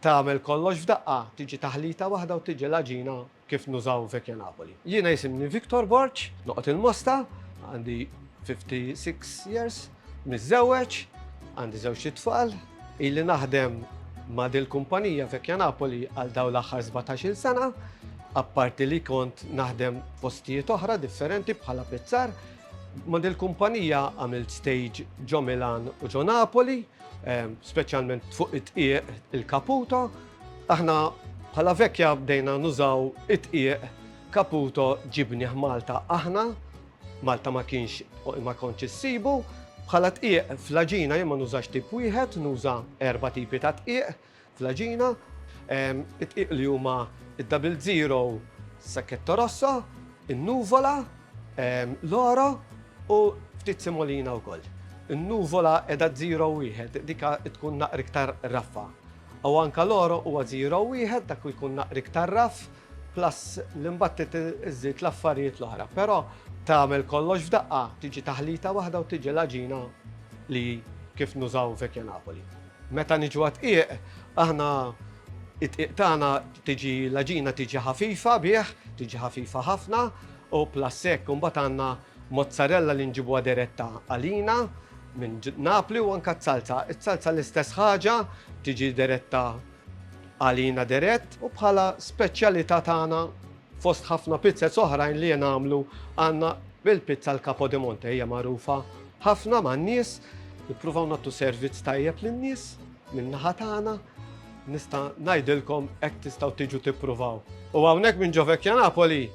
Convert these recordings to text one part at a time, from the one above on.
Tagħmel kollox f'daqqa, tiġi taħlita waħda u tiġi l-għaġina kif nużaw Vecchia Napoli. Jiena jisimni Victor Borg, noqgħod il-Mosta, għandi 56 years, miżżewweġ, għandi żewġt itfal, ili naħdem ma' dil-kumpanija Vecchia Napoli għal dawn l-aħħar 17-il sena, apparti li kont naħdem postijiet oħra differenti bħala pizzar. Ma' dil-kumpanija għamilt stage ġo Milan u ġo Napoli. speċjalment fuq it-tqieq il-kaputo, aħna bħala vekja bdejna nużaw it-tqieq kaputo ġibni Malta aħna, Malta ma kienx ma kontx issibu, bħala tqieq fl-aġina jien ma nużax tip wieħed, nuża erba' tipi ta' tqieq, fl-għaġina. Id-dqiq li huma d-Double Zero, Sacchetto Rosso, in-Nuvola, l-Oro u ftit Semolina wkoll. In-Nuvola qiegħda zero wieħed, dik tkun naqra iktar raffa. U anke l-Oro huwa zero wieħed, dak jkun naqra iktar raff. Plus l-imbattit iżżid l-affarijiet l-oħra, però tagħmel kollox f'daqqa, tiġi taħlita waħda u tiġi l-għaġina li kif nużaw Vecchia Napoli. Meta niġu għad-dqiq, aħna id-dqiq tagħna tiġi l-għaġina tiġi ħafifa bih, tiġi ħafifa ħafna u plus hekk imbagħad għandna mozzarella li nġibuha diretta għalina minn Napli u anke z-zalza. Iż-zalza l-istess ħaġa tiġi diretta Għalina dirett u bħala speċjalità tagħna fost ħafna pizzez oħrajn li jingħamlu għandna il-pizza al capo di monte hija magħrufa ħafna man-nies. Nippruvaw nagħtu servizz tajjeb lin-nies min-naħa tagħna. Nista' ngħidilkom hekk tistgħu tiġu tippruvaw. U hawnhekk minn Ġo Vecchia Napoli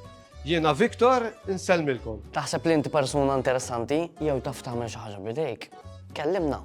jiena Victor insellmilkom. Taħseb li inti persuna interessanti jew taf tagħmel xi ħaġa b'idejk? Kellimna!